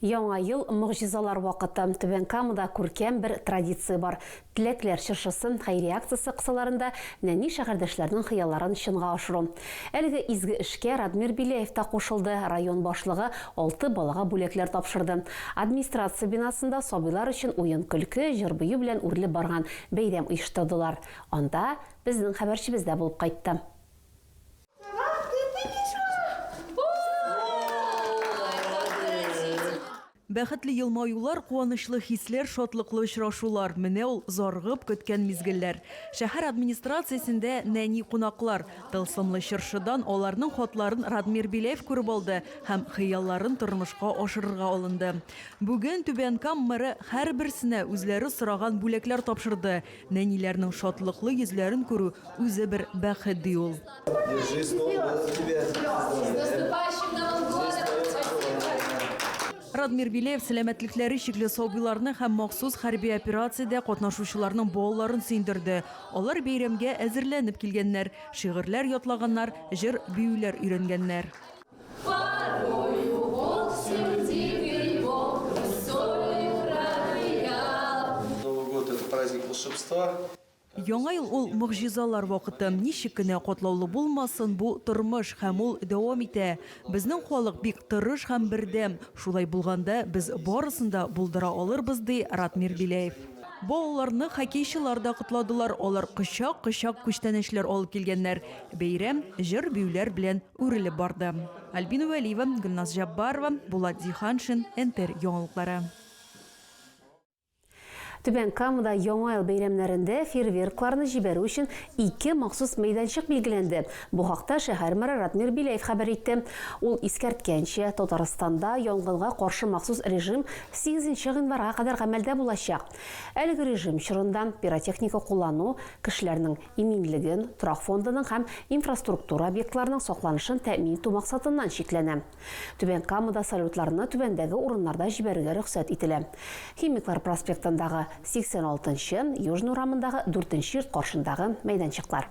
Яңа ел, могҗизалар вакыты. Түбән Камада күркәм бер традиция бар. Теләкләр чыршысын, хәйрия акциясе кысаларында нәни шәһәрдәшләрнең хыялларын чынга ашыру. Әлеге изге эшкә Радмир Беляев та кушылды, район башлыгы алты балага бүләкләр тапшырды. Администрация бинасында сабыйлар өчен уен-көлке, җыр-бию белән үрелеп барган бәйрәм оештырдылар. Анда безнең хәбәрчебез дә булып кайтты. Бәхетле елмаюлар, куанычлы хисләр, шатлыклы очрашулар, менә ул зарыгып көткән мизгелләр. Шәһәр администрациясендә нәни кунаклар. Тылсымлы чыршыдан аларның хатларын Радмир Беляев күреп алды һәм хыялларын тормышка ашырырга алынды. Бүген Түбән Кам мэры һәрберсенә үзләре сораган бүләкләр тапшырды. Нәниләрнең шатлыклы йөзләрен күрү үзе бер бәхет, ди ул. Держи стол, было тебе. Радмир Беляев сәламәтлекләре чикле сабыйларны һәм махсус хәрби операциядә катнашучыларның балаларын сөендерде. Алар бәйрәмгә әзерләнеп килгәннәр, шигырьләр ятлаганнар, җыр-биюләр өйрәнгәннәр. Яңа ел ул могҗизалар вакыты. Ничек кенә катлаулы булмасын бу тормыш һәм ул дәвам итә. Безнең халык бик тырыш һәм бердәм. Шулай булганда без барысын да булдыра алырбыз, ди Ратмир Беляев. Балаларны хоккейчылар да котладылар, алар кочак-кочак күчтәнәчләр алып килгәннәр, бәйрәм җыр-биюләр белән үрелеп барды. Альбина Вәлиева, Гөлназ Җаббарова, Булат Зиһаншин, НТР яңалыклары. Түбән Камада Яңа ел бәйрәмнәрендә фейерверкларны җибәрү өчен ике махсус мәйданчык билгеләнде. Бу хакта шәһәр мэры Радмир Беляев хәбәр итте. Ул искәрткәнчә, Татарстанда янгынга каршы махсус режим 8 гыйнварга кадәр гамәлдә булачак. Әлеге режим чорында пиротехника куллану, кешеләрнең иминлеген, торак фондының һәм инфраструктура объектларының сакланышын тәэмин итү максатыннан чикләнә. Түбән Камада салютларны түбәндәге урыннарда җибәрергә рөхсәт ителә, Химиклар проспектындагы 86 нчы, Южный урамындагы дүртенче йорт каршындагы мәйданчыклар.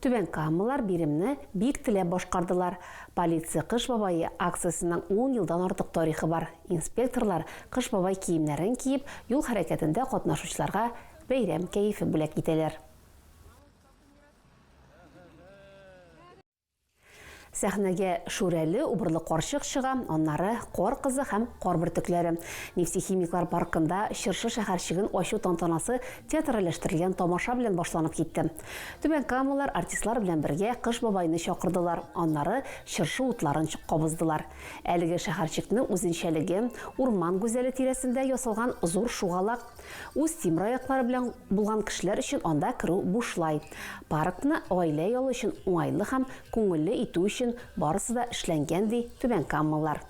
Түбән Камалар биремне бик теләп башкардылар. Полиция Кыш бабае акциясенең ун елдан артык тарихы бар. Инспекторлар Кыш бабай киемнәрен киеп, юл хәрәкәтендә катнашучыларга бәйрәм кәефе бүләк итәләр. Сәхнәгә Шүрәле убырлы карчык чыга, аннары Кар кызы һәм Кар бөртекләре. Нефтехимиклар паркында Чыршы шәһәрчеген ачу тантанасы театральләштерелгән тамаша белән башланып китте. Түбән Камалар артистлар белән бергә Кыш бабайны чакырдылар, аннары Чыршы утларын кабыздылар. Әлеге шәһәрчекне үзенчәлеге, урман гүзәле тирәсендә ясалган зур шугалак. Үз тимер аяклары белән булган кешеләр өчен анда керү бушлай. Паркны гаилә ялы өчен уңайлы һәм күңелле итү өчен барысы да эшләнгән, ди түбәнкамалылар.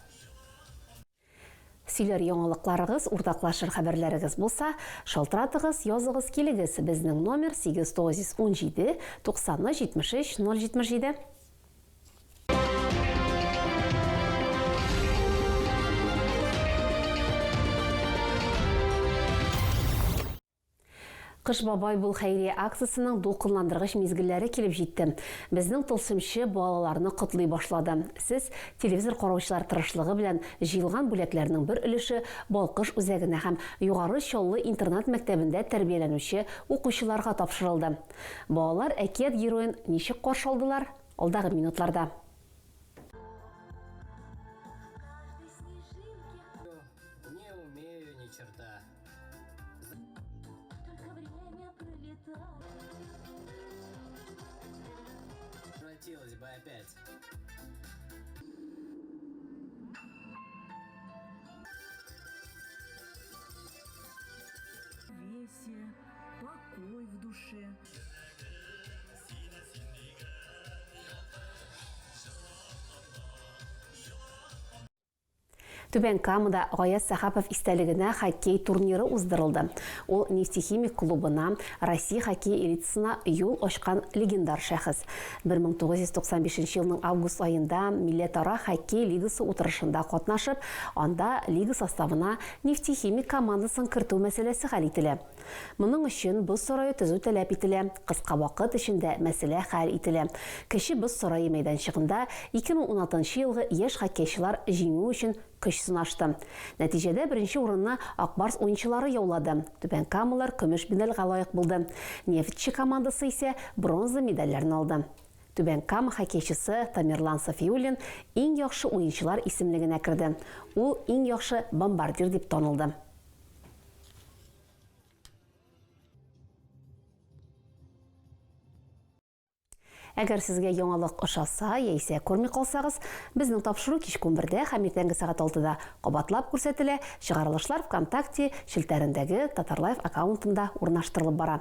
Сөйләр яңалыкларыгыз, уртаклашыр хәбәрләрегез булса, шалтыратыгыз, языгыз килегез, безнең номер, 897 93 73 077. Кыш бабай бул хәйрия акциясенең дулкынландыргыч мизгелләре килеп җитте. Безнең тылсымчы балаларны котлый башлады. Сез телевизор караучылар тырышлыгы белән җыелган бүләкләрнең бер өлеше Балкыш үзәгенә һәм Югары Чаллы интернат-мәктәбендә тәрбияләнүче укучыларга тапшырылды. Балалар әкият героен ничек каршы алдылар? Алдагы минутларда. Хотелось бы опять. Весе покой в душе. Түбән Камада Гаяз Сахапов истәлегенә хоккей турниры уздырылды. Ул нефтехимик клубына, Россия хоккей элитасына юл ачкан легендар шәхес. 1995 елның август аенда милләтара хоккей лигасы утырышында катнашып, анда лига составына Нефтехимик командасын кертү мәсьәләсе хәл ителә. Моның өчен боз сарае төзү таләп ителә, кыска вакыт эчендә мәсьәлә хәл ителә. Кече боз сарае мәйданчыгында 2016 елгы яшь хоккейчылар җиңү өчен көч сынашты. Нәтиҗәдә беренче урынны Ак Барс уенчылары яулады, Түбән Камалар көмеш медальгә лаек булды, Нефтьче командасы исә бронза медальләрне алды. Түбән Кама хоккейчысы Тамерлан Сафиуллин иң яхшы уенчылар исемлегенә керде. Ул иң яхшы бомбардир дип танылды. Әгәр сезгә яңалык ошаса яисә күрми калсагыз, безнең тапшыру кичке унбердә һәм иртәнге сәгать алтыда кабатлап күрсәтелә, чыгарылышлар ВКонтакте челтәрендәге Татарлайф аккаунтында урнаштырылып бара.